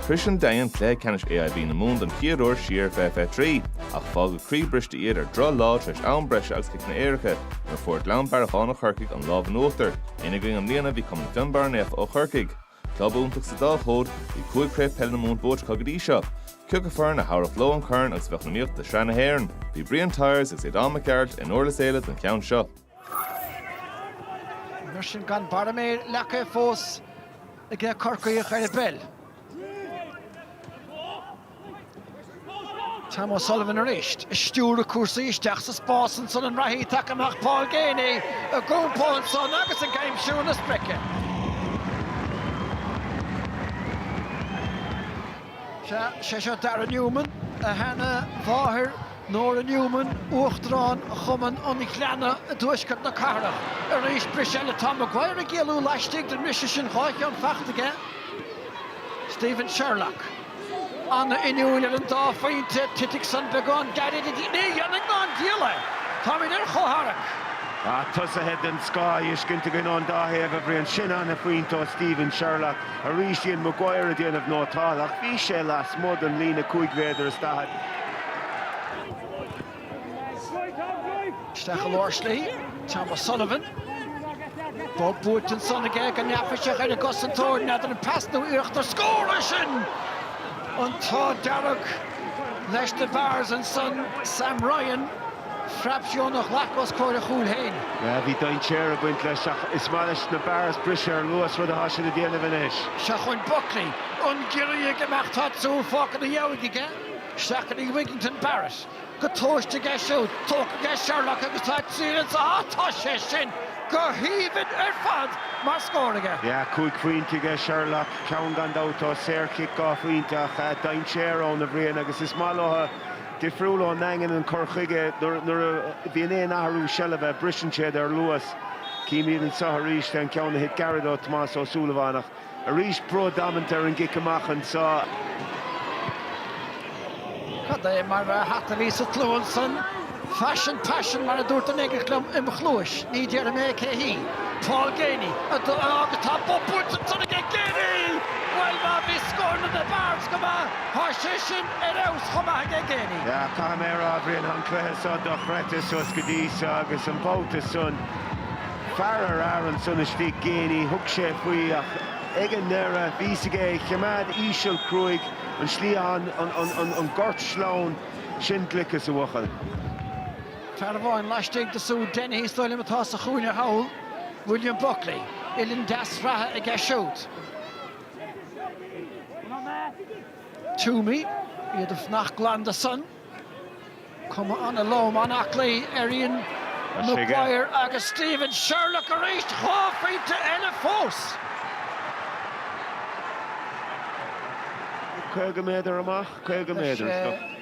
Shrois an Daingean cluiche ceannais AIB na Mumhan don chéad uair siar i 2023, ach fágadh croíbhriste iad ar dhroch lá tar éis am breise agus ciceanna éirice, nuair a fuair Gleann Bearacháin ó Chorcaigh an lámh in uachtar. Ina gcoinne i mbliana bhí cumann Fionnbarra Naofa ó Chorcaigh. Club iontach sa dá chód, bhí cúig Craobh Peile na Mumhan buaite acu go dtí seo. Ciocu foireann a thabharfadh leo an corn agus a bheadh in iomaíocht do Shraith na hÉireann. Bhí Brian Tyers agus Aodán Mac Gearailt i nDurlas Éile don cheann seo. Mar sin gan barra méire leagtha fós ag na Corcaígh ar an bpeil. Tom O'Sullivan arís ag stiúradh cúrsaí isteach sa spás ansan an reathaí taca amach Paul Geaney ag iompó ansan agus ag aimsiú na sprice. Sé seo Darragh Newman, a sheana mháthair Nora Newman, Uachtarán Chumann an Ghleanna i dtuaisceart na cathrach. Arís, briseadh eile. Tá Maguire ag éalú laistigh den mbriseadh sin, dhá cheann faighte aige. Stephen Sherlock ana inniúil ar an dá phointe, titfidh san beagán gairid. Ní dhéanfaidh ná an diabhal é. Táimid ar chomhtharrac. Tá tosaithe den scoth á fheiscint againn ón dá thaobh a Bhriain, sin ana phointe ó Stephen Sherlock. arís Ian Maguire ag déanamh nótáil ach bhí sé lasmuigh den líne cúig mhéadar is daichead. Isteach i lár slí, Tom O'Sullivan. Bob buailte ansan aige go neafaiseach ar an gcosantóir, n'fheadar an pas nó iarracht ar scór é sin! An t-ádh dearg leis na Barrs ansan, Sam Ryan. Fraipsiún a ghlac os comhair a chúil féin. Bhí dainséar ag baint leis ach is maith leis na Barrs briseadh ar luas, rud atá siad ag déanamh anois. Seachain Buckley an giorria ag imeacht tá siúd fágtha ina dhiaidh aige. Seachain Wigginton Barrett go tomhaiste aige siúd. Tógtha aige Sherlock agus tá triail ins a á tá sé sin go haoibhinn ar fad mar scór aige. Cúig phointe aige Sherlock, ceann gan dabht ó saor chic dhá phointe ach dainséar ann a Bhriain agus is maith leo. difriúil ón nDaingean an cur chuige. Nuair a bhíonn aon athrú seilbhe, briseann siad ar luas. Chímid anseo arís, an ceann a thit gairid ó Thomás Ó Súilleabháin ach arís brú damanta ar an gcic amach anseo. Cad é mar hata a bhí sa tslua ansan! Faisean paisean mar a dúirt duine éigint liom im chluais, ní déarfaidh mé cé hí. Paul Geaney, a d'fhág agus tá bob buailte ansan aige! Geaney! Bhuel má bhí scóranna na Barrs go maith, tá sé sin ar fheabhas chomh maith aige Geaney. Yeah, caithfidh mé a rá, a Bhriain, an cluiche seo dochreidte suas go dtí seo agus an babhta san, fear ar fhear ansan istigh Geaney, thug sé faoi ach ag an ndeireadh, bhí 's aige é choimeád íseal cruaidh an slí an, an, an, an, an gort sleamhain sin gliceas a bhuachaill. Fear amháin laistigh de siúd Dennehy is dóigh liom atá sa chúinne thall, William Buckley. Uillinn deas reatha aige siúd. Twomey, iad ag fanacht glan de san. Cuma an-lom, an-aclaí ar Ian Maguire agus Stephen Sherlock arís. Dhá phointe eile fós. 50 méadar amach, 50 méadar is go.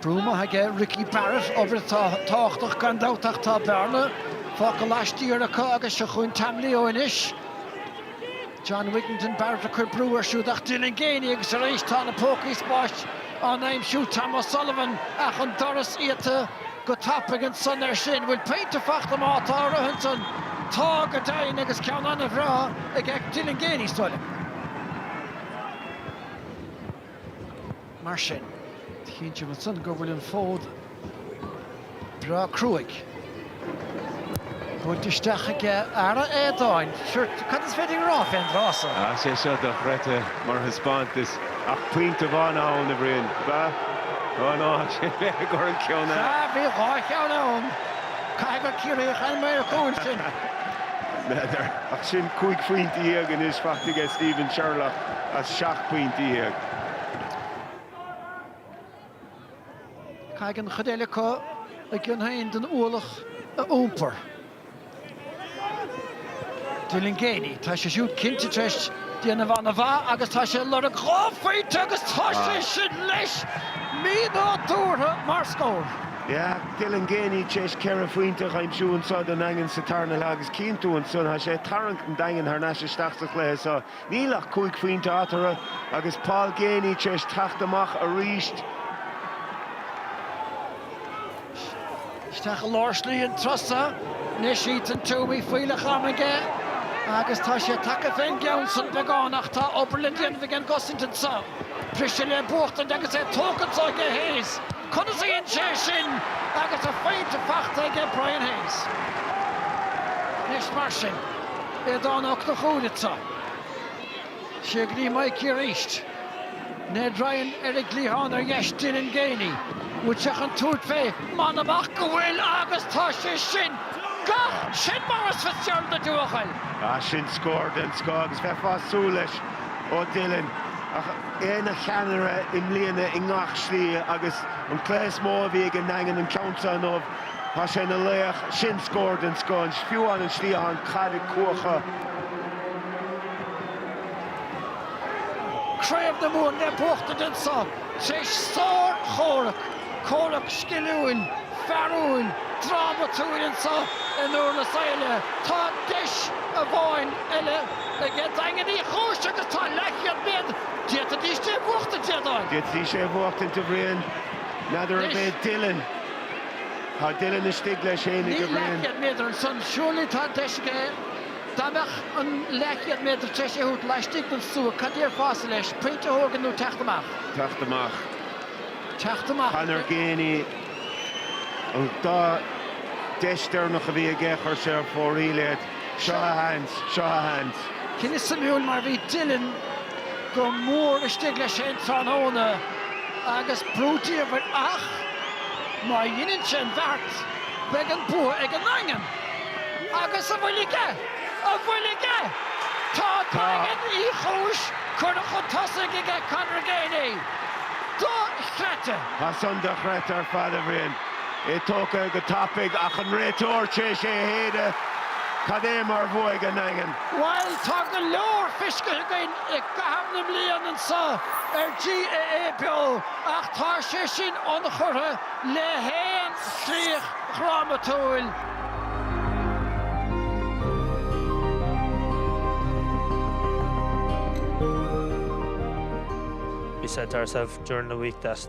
Brú maith aige Ricky Barrett, obair atá tábhachtach gan dabht ach tá bearna fágtha laistiar acu agus seo chugainn Tom Leo anois. John Wigginton Barrett ag cur brú air siúd ach Dylan Geaney agus arís tá na pócaí spáis á n-aimsiú, Tom O'Sullivan ach an doras iata go tapaidh ansan air sin. Bhfuil pointe fachta má tá a rith ansan? Tá go deimhin agus ceann an-bhreá ag Dylan Geaney, is dóigh liom. mar sin. Cinnte ansan go bhfuil an fód breá cruaidh. Buailte isteach aige. Ara, a Aodáin. Sure, cad is féidir a rá fén dtráth so? Tá sé seo dochreidte mar thaispeántas. Ach pointe amháin ann, a Bhriain. Ba. Ó ná sin mé ag cur an ceann eile. Sea, bhí dhá cheann ann. Caithfidh gur Ciarraíoch an maor cúil sin. N'fheadar. Ach sin cúig phointe dhéag anois fachta aige Stephen Sherlock as seacht bpointe dhéag. Caithfidh an chuid eile acu a gcion féin den ualach a iompar. Dylan Geaney, tá sé siúd cinnte tar éis déanamh an-mhaith agus tá sé ag lorg dhá phointe agus tá sé sin leis! Mínádúrtha mar scór. Yeah, Dylan Geaney tar éis ceithre phointe a aimsiú anseo don Daingean sa tarna leath agus cinnte ansan tá sé ag tarraingt an Daingin thar n-ais isteach sa chluiche seo. Níl ach cúig phointe eatarthu agus Paul Geaney tar éis teacht amach arís. Isteach i lár slí an turas so anois Ethan Twomey, fuílleach ama aige agus tá sé tagtha fén gceann san beagán ach tá obair le déanamh ag an gcosaint anseo. Briseadh le buachtaint agus é tógtha anseo aige Hayes. Conas a dhein sé é sin agus a phointe fachta aige Brian Hayes. Anois mar sin. Aodán Ó Conchúir, tá sé go dtí Mikey arís. Ned Ryan ar an gcliathán ar dheis Dylan Geaney, an bhfuil sé chun tabhairt fé? M'anam ach go bhfuil agus tá sé sin gach Sin Maurice Fitzgerald na Dubhghaill. Ah sin scór den scoth agus bheifeá ag súil leis ó Dylan ach é ina cheannaire i mbliana i ngach slí agus an cluiche is mó a bhí ag an nDaingean an ceann seo inniu. Tá sé ina laoch, sin scór den scoth. An suíomh, an cliathán, caid ag cuachadh. Craobh na Mumhan le buachtaint anso tar éis sár-chomhrac, comhrac sciliúil, fearúil, drámatúil anso i nDúrlas Éile. Tá deis amháin eile ag Daingean Uí Chúis agus tá leathchéad méadar, d'fhéadfaidís é a bhuachtaint, a Aodáin. D'fhéadfaidís é a bhuachtaint, a Bhriain. N'fheadar an mbeidh Dylan. Tá Dylan istigh leis fhéin a Bhriain. Níl leathchéad méadar ansan. Surely tá an deis aige. Dá mbeadh an leathchéad méadar tar éis é a thabhairt laistigh den stua, cad déarfása leis? Pointe a thógáil nó teacht amach? Teacht amach. Teacht amach, ok. Conor Geaney, an dá deis deireanach a bhí aige, chuir sé ar fóraoil iad. Seo a sheans, seo a sheans. Cinneadh suimiúil mar bhí Dylan go mór istigh leis fhéin tráthnóna agus brú diamhair ach má dheineann sé an bheart beidh an bua ag an nDaingean. Agus an bhfuil aige? An bhfuil aige? Tá Daingean Uí Chúis curtha chun tosaigh aige Conor Geaney. Dochreidte! Tá san dochreidte ar fad, a Bhriain. É tógtha go tapaidh ach an réiteoir tar éis é a shéideadh. Cad é mar bhua ag an nDaingean! Bhail tá go leor fiscithe againn i gcaitheamh na mblian anso ar GAA Beo ach tá sé sin ionchurtha le haon chríoch dhrámatúil. We said to ourselves during the week that.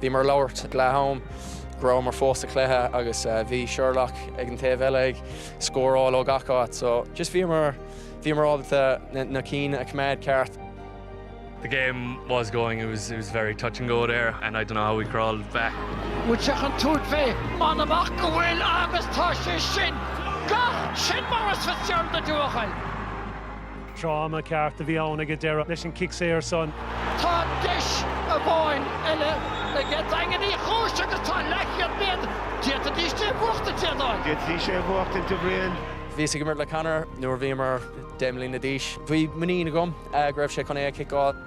Bhíomar ag labhairt ag leath-am go rabhamar fós sa chluiche agus bhí Sherlock ag an taobh eile ag scóráil ó gach áit so just bhíomar, bhíomar ábalta na cinn a choimeád ceart. The game was going, it was, it was very touch and go there and I don't know how we crawled back. An bhfuil sé chun tabhairt fé? M'anam ach go bhfuil agus tá sé sin! Gach sin Maurice Fitzgerald na dtuathail! Dráma ceart a bhí ann ag an deireadh leis an cic saor san. Tá deis amháin eile ag Daingean Uí Chúis agus tá leathchéad méadar, d'fhéadfaidís é a bhuachtaint, a Aodáin. D'fhéadfaidís é a bhuachtaint, a Bhriain. Bhíos ag imirt le Conor nuair a bhíomar deich mbliana d'aois. Bhí muinín agam go raibh sé chun é a chiceáil.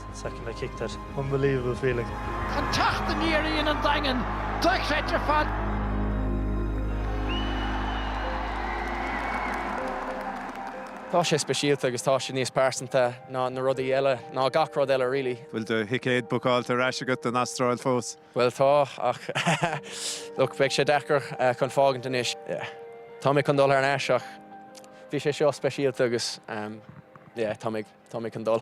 Second I kicked it. Unbelievable feeling. An teacht aniar a dhein an Daingean, dochreidte ar fad. Tá sé speisialta agus tá sé níos pearsanta ná na rudaí eile, ná gach rud eile really. Bhfuil do thicéad bookáilte ar ais agat don Astráil fós? Bhuel tá, ach look, beidh sé deacair chun fágaint anois. Yeah. Tá mé chun dul ar ais ach bhí sé seo speisialta agus yeah, tá mé ag. Tá mé chun dul.